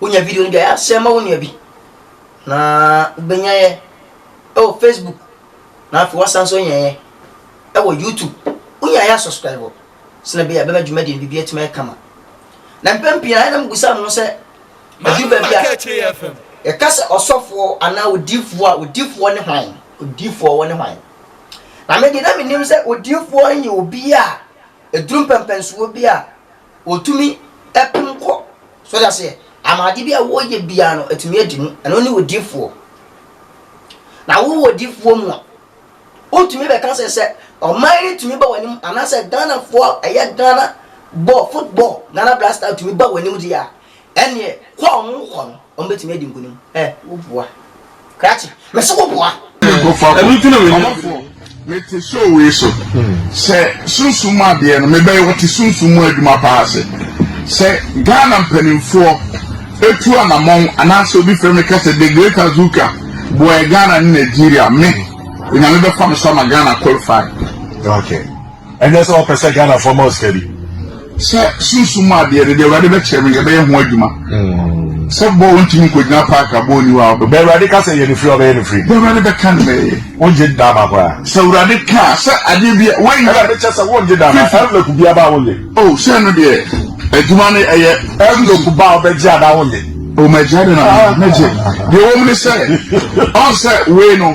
Wonya video no bi a, yɛ a share ma wo nua bi. Na wobɛnya yɛ ɛwɔ Facebook. Na afei wasan nso anya yɛ ɛwɔ YouTube. Wonya yɛ a subscribe hɔ. Sɛnɛ bɛyɛ a bɛma dwumadie no biribi atumi ayɛ kama. Na mpɛn pii na ɛnam gusa no sɛ ɛduru baabi a yɛka sɛ ɔsɔfoɔ anaa odiifoɔ a odiifoɔ ne hwan? Odiifoɔ wɔ ne hwan? Na me deɛ na menim sɛ odiifoɔ yɛ obi a ɛduru mpɛmpɛnsoɔ bi a Wɔtumi pem kɔ. So ɔde aseɛ? Ama ade bi a wɔyɛ biara no atumi adi mu. Ɛno ne odifoɔ. Na wowɔ odifoɔ mu a, wotumi bɛka sɛ sɛ ɔman no tumi ba w'anim anaasɛ Ghanafoɔ ɛyɛ Ghana bɔɔl football Ghana Black Star tumi ba w'anim deɛ a, Ɛnneɛ, kɔ a wɔrekɔ no, wɔbɛtumi adi nkonim. Ɛ, woboa. Krakye, mese woboa! Ɛno nti na menya ɔdɔ yi. Mete show wei so. Sɛ sunsum mu adeɛ no, mebɛyɛ wɔte sunsum mu adwuma pa ara se. Sɛ Ghana mpanimfoɔ tu anamɔn anaasɛ obi frɛ me ka sɛ The Great Azuka boaɛ Ghana ne Nigeria, me, Onyame bɛfa me so ama Ghana qualify. Okay. Ɛnyɛ sɛ wɔpɛ sɛ Ghanafoɔ ma wo sika bi. Sɛ sunsum mu adeɛ no deɛ Awurade bɛkyerɛ me yɛbɛyɛ ho adwuma. Mm. Sɛ bɔɔ wontumi nkɔgyina paak a bɔɔ ni hɔ a wobɛbɔ. Bɛ Awurade ka sɛ yɛ ne firi ɔbɛyɛ ne firi. Deɛ Awurade bɛka no mɛyɛ. Wongye daa ma koraa. Sɛ Awurade ka sɛ adeɛ bi a wɔnyɛ. Ɛna mekyɛ sɛ wongye daa ma ɛnlɛku bi aba a wonyɛ. O oh, sɛ no deɛ adwuma no ɛyɛ. Ɛnlɛku ba a wobɛgye adaa wonyɛ. O oh, mɛgye ade na mɛgye. Deɛ wɔm ne sɛ ɔn sɛ wei no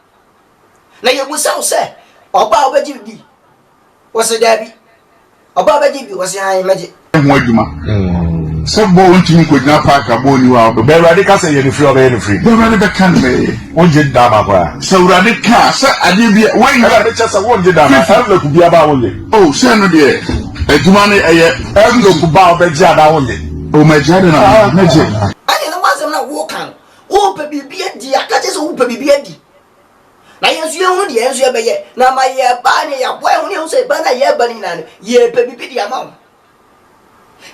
Na yɛbisa wo sɛ, ɔbaa wobɛgye me bi? Wɔse daabi. Ɔbaa wobɛgye bi? Wɔse hann, mɛgye. Ho adwuma. Sɛ bɔɔl ntumi nkɔgyina paak a, bɔɔl nni hɔ a, wobɛbɔ. Bɛ Awurade ka sɛ, Yɛ no firi a, ɔbɛyɛ no firi. Bɛ Awurade bɛka no mɛ, wongye da anaa koraa? Sɛ Awurade ka sɛ adeɛ bi a, woyɛ. Ɛna mekyɛ sɛ wongye da anaa? Ɛnlɔku bi aba a, wongye? O, sɛ ɛno deɛ, adwuma no ɛyɛ. Ɛnlɔku ba a, wobɛgye anaa wongye? O, mɛgye, adɛn na mɛgye? Ɛne no ho asɛm na woka no. Wopɛ biribi adi a, ka kyerɛ sɛ wopɛ biribi adi. Na yɛn nso yɛhu deɛ yɛn nso yɛbɛyɛ. Na ma yɛba ne yɛaboa yɛn ho ne yɛn ho sɛ ɛba no a yɛreba no nyinaa no, yɛrepɛ biribi de ama wo.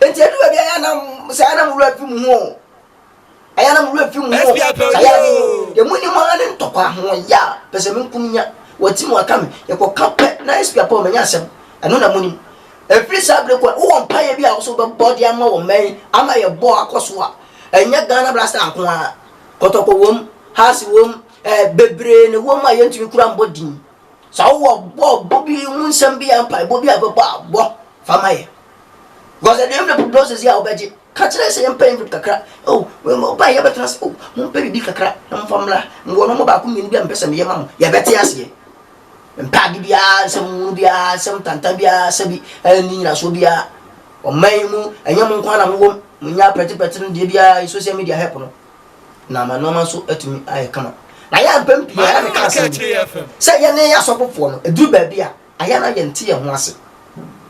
Enti ɛdu baabi a yɛana sɛ yɛana mo werɛ fi mo ho o. Ayɛana mo werɛ fi mo ho o. Sɛ ayɛ ne deɛ mo nim ara ne ntɔkwa ho yɛ a, pɛ sɛ me nko menya. Wɔatim wɔaka me. Yɛkɔka pɛ na SP Apaw manya asɛm. Ɛno na mo nim. Ɛfiri saa berɛ kɔ, wowɔ mpaeɛ bi a wo nso wobɛbɔ de ama wo mmɛn ama yɛbɔ akɔ so a, ɛnyɛ Ghana Blaster nko ara, Kɔtɔkɔ wom, Hearts wom, eh, bebree na ɛwom a yɛntumi kura mbɔ din. Sɛ wowɔ bɔ bɔ bi ho nsɛm bi a mpaebɔ bi a wobɛbɔ a, bɔ fa ma yɛn. Because ɛde envelope doses yi a wobɛgye, ka kyerɛ yɛ sɛ yɛmpɛ envelope kakra, oh, wobaeɛ yɛbɛtena ase, oh, mompɛ biribi kakra na momfa mmra, mewɔ nɔma baako mmienu bi a mepɛ sɛ meyɛ ma mo, yɛbɛte aseɛ. Mempɛ ade biara, nsɛm hunu biara, nsɛm tantan biara, sɛbi a ɛnni nyinasoɔ biara. Ɔman yi mu, ɛnyɛ mo nko ara na mo wom. Monyaa prɛteprɛte no deɛ biara yi, social media help no, na ama nnoɔma nso atumi ayɛ kama. Na yɛn a mpɛn pii a na meka asɛm bi sɛ yɛne asɔfofoɔ no, ɛduru baabi a, ayɛ na yɛnte yɛn ho ase.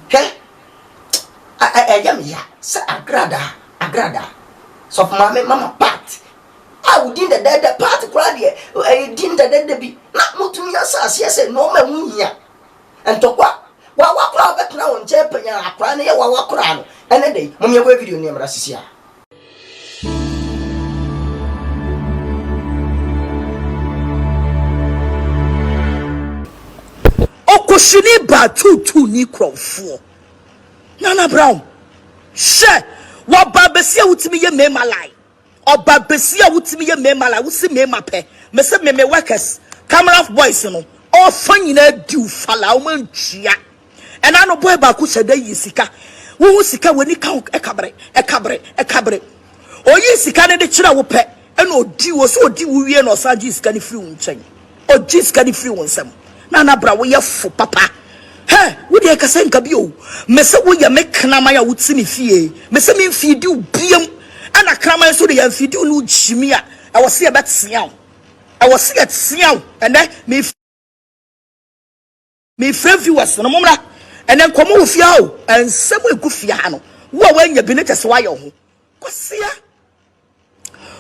Hwɛ! Ɛyɛ me ya sɛ agradaa, agradaa, Sɔfo Maame, Mama Pat, a wo din dɛdɛɛdɛ paa te koraa deɛ ɛyɛ din dɛdɛɛdɛ bi na motumi asa aseɛ sɛ nnoɔma ɛho hia ntɔkwa wawa koraa bɛtena wo nkyɛn panyan akoraa no yɛ wawa koraa no ɛnɛ da yi mom yɛbɔ video no yɛmmra sisi a Okushini baa tuutuu ni kurɔfoɔ Nana Brown hyɛ waba bɛsi a wotumi yɛ mmarima line Ɔba besia wotimi yɛ mmarima la wosi mmarima pɛ mese me me workers camera boys no ɔfa nyinaa diw fa la ɔma ntua ɛna no boy baako hyɛ da yi sika wohu sika w'ani ka ho ɛkabre ɛkabre ɛkabre oyi sika no de kyerɛ wo pɛ ɛna odi wo so odi wo wie na ɔsan gye sika no firi wo nkyɛn Ɔgye sika no firi wo nsam. Nana Bra wo yɛ fo papa. Hɛ wo deɛ kɛsɛ nka bi o. Me se wo yɛ me kraman a wo ti me fie. Me se me nfii di wo biam. Ɛna kraman so de yɛ nfii di wo ne wo gyimi a ɛwɔ se yɛ bɛ tea wo. Ɛwɔ se yɛ tea wo ɛnɛ me. Mefrɛ viewers no, mommra ɛnɛ nkɔmmɔ wɔ fie ha o. Nsɛm a ɛgu fie ha no, wo a woanya bi no kyɛ sɛ woayɛ wo ho kwasea.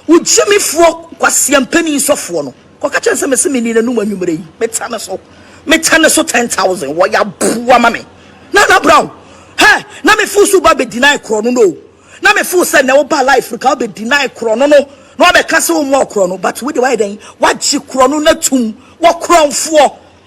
Wo gyimifoɔ kwasea mpanin sɔfoɔ no, kɔka kyerɛ no sɛ mese menni n'anom anwummerɛ yi, meta ne so, meta ne so 10,000, wɔyɛ aboa ma me. Nana Brown, hɛ, na mefo so ba bɛ deny korɔ no no, na mefo sɛ na woba life no ka wobɛ deny korɔ no no, na wabɛka sɛ wo mmoa korɔ no, but wode wayɛ dɛn, wagye korɔ no no atum, wɔ korɔmfoɔ.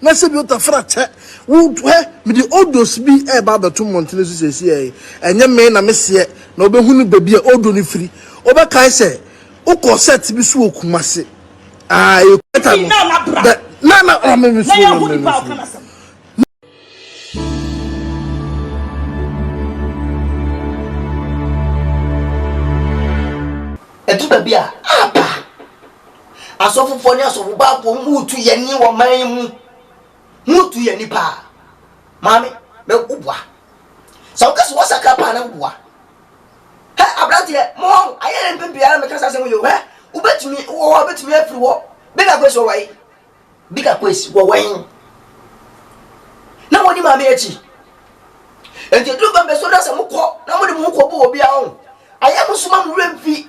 Na sɛ bi tafra kyɛ wo hɛ, mede odos bi reba abɛto mmɔntene so seesei, ɛnyɛ me na meseɛ, na wobɛhunu baabi a odo no firi. Wobɛkae sɛ wokɔɔ sɛt bi so wɔ Kumasi. Aah, ɛyɛ Kumasi no. Dɛ, na, na, na me, mesuro, na me, mesuro. Ɛdu baabi a, aba. Asɔfofoɔ ne asɔfobaafoɔ ho retu yɛn ani wɔ man yi mu. Ho retu yɛn ani paa. Maame, bɛ woboa. Sɛ woka sɛ wɔsakra paa na woboa. Hɛ, aberanteɛ, mo hɔ, ayɛ yɛn mpɛn pii ara meka saa asɛm yi o. Hɛ, wobɛtumi, wowɔ hɔ a wobɛtumi afiri hɔ. Bigger Kwesi wɔ wai? Bigger Kwesi wɔ wɛn? Na wɔdi maame akyi. Enti ɛduru bɛn bɛsɔ na sɛ mokɔ na mode mo ho kɔbɔ obi a ɔn, ayɛ mo so ma mo werɛ mfi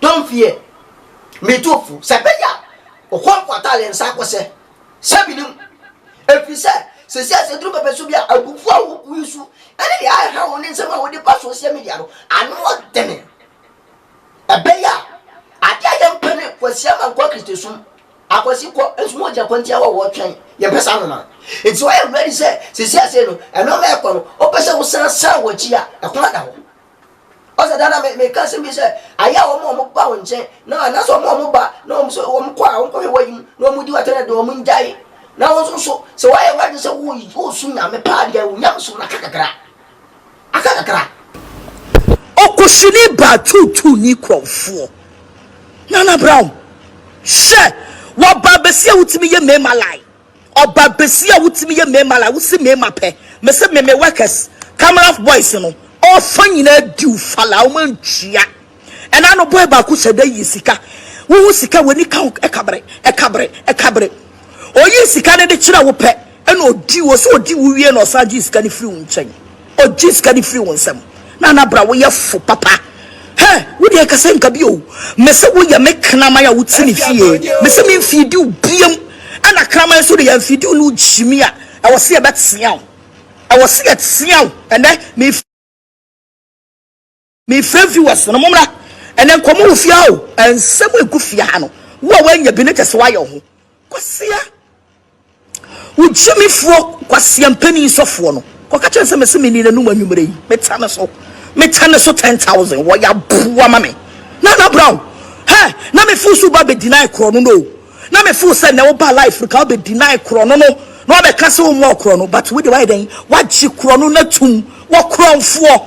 Don't fear me too fo sɛ ɛbɛyɛ a Okonkwo ataa yɛn nsa akɔ sɛ sɛ menim ɛfiri sɛ sɛsi a sɛ duru pɛpɛ so bi a abufuo a wobu yi so ɛne deɛ ɛha wo ne nsɛm a wode ba social media no ano ɔdene ɛbɛyɛ a adeɛ a yɛmpɛ ne kwasi ama nkɔ kristosom akwasi kɔ nso mu ɔgya kwantia wɔ wɔtwɛn yɛmpɛ saa noma nti ɔyɛ ready sɛ sɛsi ase no ɛno ma ɛkɔ no wopɛ sɛ wosan san wɔ akyi a ɛkwan da hɔ Ɔsɛ daa na me meka asɛm bi sɛ ayɛ a wɔn a wɔn ba wɔn nkyɛn na anaasɛ wɔn a wɔn ba na wɔn sɛ wɔn kɔ a wɔn kɔhwɛ wɔn yim na wɔn di wɔn atɛnɛ de wɔn ngyae na wɔn nso so sɛ wɔayɛ wɔn adi sɛ wɔresu nyame paa deɛ wɔn nyame som no aka kakra aka kakra. Ɔkosini baa tuutuu ni kurɔfoɔ Nana Brown hyɛ wɔba bɛsi a wotumi yɛ mmarima line. Ɔba besia a wotumi yɛ mmarima la wosi mmarima pɛ mese me me workers cameras boys no ɔfa nyinaa diw fa la wɔn antua ɛna no boy baako hyɛ da yi sika wohu sika w'ani ka ho ɛkabre ɛkabre ɛkabre oyi sika no de kyerɛ wo pɛ ɛna odi wo so odi wo wie na ɔsan gye sika no firi wo nkyɛn Ogye sika no firi wo nsam. Nana bra woyɛ fo papa. Hɛ wo deɛ kasa nka bi oo mese wo yɛ me kraman a wo ti ne fie mese me nfii diw biam ɛna kraman nso de yɛ nfii diw no gyimi a ɛwɔ se yɛ bɛ teaw ɛwɔ se yɛ teaw ɛnɛ me Me fɛ viewers no mo mmra ɛnɛ nkɔmɔ wɔ fia o ɛnsɛm egu fia ha no wo a wanya bi ne kyɛ sɛ wayɛ ho kwasia wo gyimifoɔ kwasia mpanin sɔfoɔ no kɔka kyɛn sɛ mɛsɛ meni n'anum anwummerɛ yi meta ne so meta ne so ten thousand wɔ yɛ aboa ma me na na brown hɛ na me fo so ba bɛ deny korɔ no no na me fo sɛ na wo ba life no ka bɛ deny korɔ no no na wabɛka sɛ wo mu ɔkorɔ no but wo de wayɛ dɛn wagye korɔ no na tum wɔ korɔnfoɔ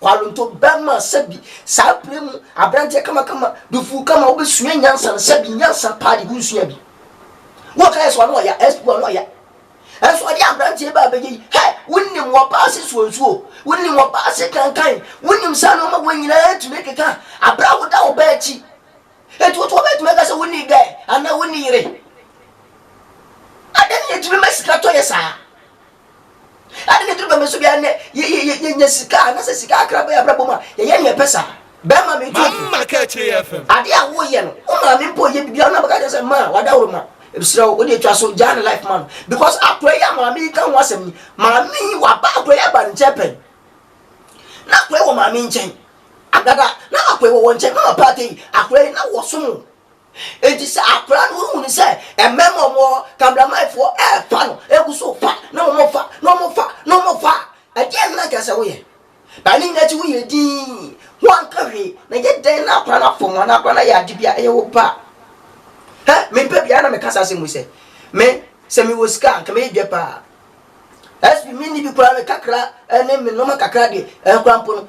Kwalonto bɛma sɛbi saa bere mu aberanteɛ kamakama, dufuu kama, wobɛsua nyansa no sɛbi nyansa paa de wonsua bi. Woka yɛ sɛ ɔno ɔya, SP ɔno ɔya. Ɛnso ɔde aberanteɛ baa bɛgye yi, hɛ, wonim wɔbaa ase suo nsuo, wonim wɔbaa ase kankan, wonim saa nnoɔma wei nyinaa tumi keka aberɛ a woda wo ba akyi. Enti woto wɔbɛtumi aka sɛ wonni gɛ anaa wonni yere. Adɛn na yɛtumi ma sika tɔ yɛ saa? Ade ne toro bɛmɛ so biara nɛ yɛnya sika anasɛ sika akra bɛyɛ abrabɔ mu a yɛyɛ neɛ ɛpɛ saa. Bɛɛma me tu otu. Mama ka akyire yɛ fɛ. Adeɛ a wo yɛ no wo maame mpo ɔyɛ bibi a na bɛka kyerɛ sɛ maa wadaworo ma mesrɛ wo wode atwa so gyaa ne life ma no because akora yi a maame yi ka ho asɛm yi maame yi waba akora yi aba ne nkyɛn pɛn na akora yi wɔ maame nkyɛn agada na akora yi wɔ wɔn nkyɛn mama paate yi akora yi na wɔsom Enti sɛ akwadaa no hu no sɛ mmarima a wɔwɔ hɔ, kameramanfoɔ refa no, ɛgu so fa na wɔfa na wɔfa na wɔfa a, ɛdeɛn na anka sɛ woyɛ? Ba ne nyinaa akyi woyɛ dinn, woanka hwee, na yɛ dɛn na akwadaa no afom wo anaa akwadaa no ayɛ ade bi a ɛyɛ wo ba a? Hɛ, mempɛ biara na meka saa asɛm wei sɛ, me, sɛ mewɔ sika a, anka mɛyɛ dwa paa. SP, menni bi koraa, me kakra ne me nneɛma kakra deɛ, ɛnkoraa mpo no,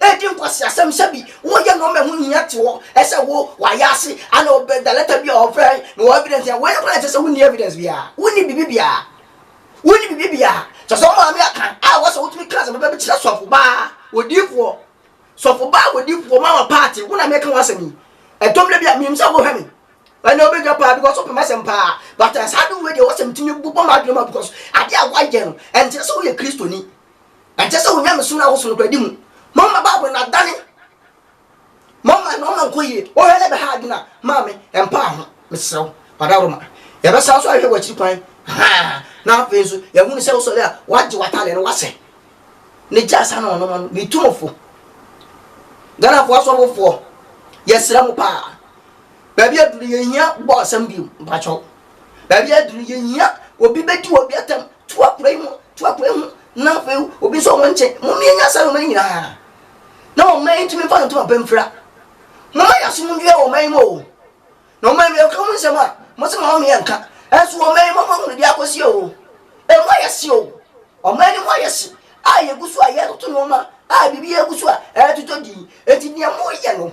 Edi nkwaseasɛm sɛ bi wɔyɛ nnoɔma ɛho hia te hɔ ɛsɛ wo wayɛ ase ana ɔbɛ da lɛta bi a ɔfrɛ me wɔ evidence a wei no koraa nkyɛ sɛ wonni evidence biara wonni biribi biara wonni biribi biara kyɛ sɛ ɔmaa me aka a wɔ sɛ wotumi ka sɛ bɛbɛ bɛkyerɛ sɔfo baa wɔdiifoɔ sɔfo baa wɔdiifoɔ ma ma paate wo na meka ho asɛm yi ɛtɔm da bi a menim sɛ wohwɛ me ɛna wobɛdwa paa because wopɛ m'asɛm paa but saa adom wei deɛ wɔ sɛ metumi bobɔ m'adwene ma because adeɛ a woayɛ no ɛnkyerɛ sɛ woyɛ kristoni Ɛnsɛ sɛ wo nyamesom no awoso nokwadi mu. Momma Bible no adane mo ama na ɔma nkɔ yie. Wohwɛ na ɛbɛha adwene a, ma me mpaa ho, mesrɛ wo. Ɔdaworo ma. Yɛbɛsan nso ahwɛ w'akyiri kwan. Ahaa, na afei nso, yɛahunu sɛ wosɔre a, woagye w'atade no, woasɛ. Ne gya asa na ɔnom ano. Metu mo fo. Ghanafoɔ asɔfofoɔ, yɛsrɛ mo paa. Baabi aduru yɛhia bɔ asɛm bio, mpakyɛw. Baabi aduru yɛhia obi bɛdi obi atam To apuei ho, to apuei ho, na afei obi nso ɔwɔ nkyɛn. Mumie nya saa nneɛma no nyinaa na ɔman yi ntumi mfa ne ntoma pa mfira. Momma yɛn asom nwia wɔ ɔman yi mu o. Na ɔman yi yɛka mu nsɛm a, mose momma me yɛnka. Ɛnso ɔman yi momma hunu deɛ akɔsi o. Ɛmu ayɛ hye o. Ɔman no mu ayɛ hye a yɛgu so a yɛtoto nneɛma a biribi agu so a ɛretotɔ din. Enti deɛ moyɛ no,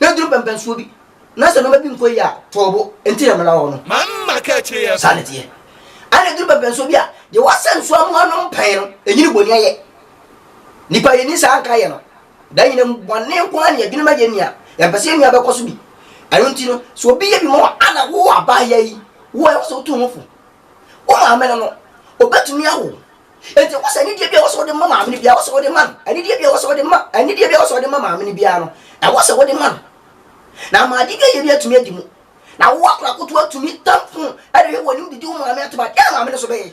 Na duru pɛ mpɛnsoɔ bi. Na sɛ nnoɔma bi nkɔ yie a, tɔɔ bo. Enti na mena hɔ no. Mamma ka akyire yɛ. Saa na ɛteɛ. Ɛna duru pɛ mpɛnsoɔ bi a, deɛ wasɛ nso amu anom pɛn no, ɛnyini bɔne ayɛ. Nnipa a yɛnni saa nkaeɛ no, da nyinaa mu, bɔne nko ara na yɛdwene ma yɛn nua. Yɛmpɛ sɛ yɛn nua bɛkɔ so bi. Ɛno nti no, sɛ obi yɛ bi ma wo a, na wo abaayewa yi, wo a ɛwɔ sɛ wotu wo ho fo, wo maame no no, ɔbɛtumi awo Enti ɛwɔ sɛ anidie bi a ɛwɔ sɛ wode ma maame no biara ɛwɔ sɛ wode ma no. Anidie bi a ɛwɔ sɛ wode ma anidie bi a ɛwɔ sɛ wode ma maame no biara no, ɛwɔ sɛ wode ma no. Na ama ade bi a ɛyɛ bi atumi adi mu. Na wo akora koto atumi tam fon ɛde hwɛ w'anim didi wo maame atom a, deɛ na maame no so bɛyɛ?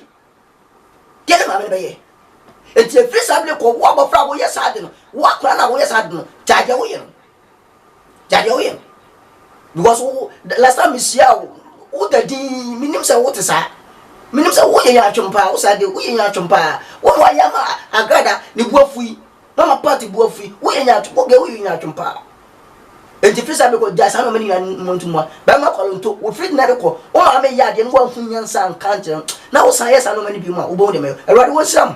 Deɛ na maame no bɛyɛ? Enti ɛfiri saa bere kɔ wo abɔfra a woyɛ saa ade no, wo akora no a woyɛ saa ade no, gyae deɛ woyɛ no. Gya deɛ woyɛ no because wo last time mehyia wo woda din menim sɛ wote saa menim sɛ woyɛ yɛn atwom paa wo saa de woyɛ yɛn atwom paa wo na wayɛ ama agrada ne bu afu yi mama party bu afu yi woyɛ yɛn atwom woyɛ woyɛ yɛn atwom paa nti fisa bi kɔ gya saa na ɔmo ne nyinaa mmɔ ntumwa bɛma kɔlonto wo firi na de kɔ wo maame yɛ adeɛ no woahu nyansa nka nkyerɛ na wosan yɛ saa nɔɔma no bi mu a wobɛhu deɛ mɛyɛ awurade wɔnhyira mo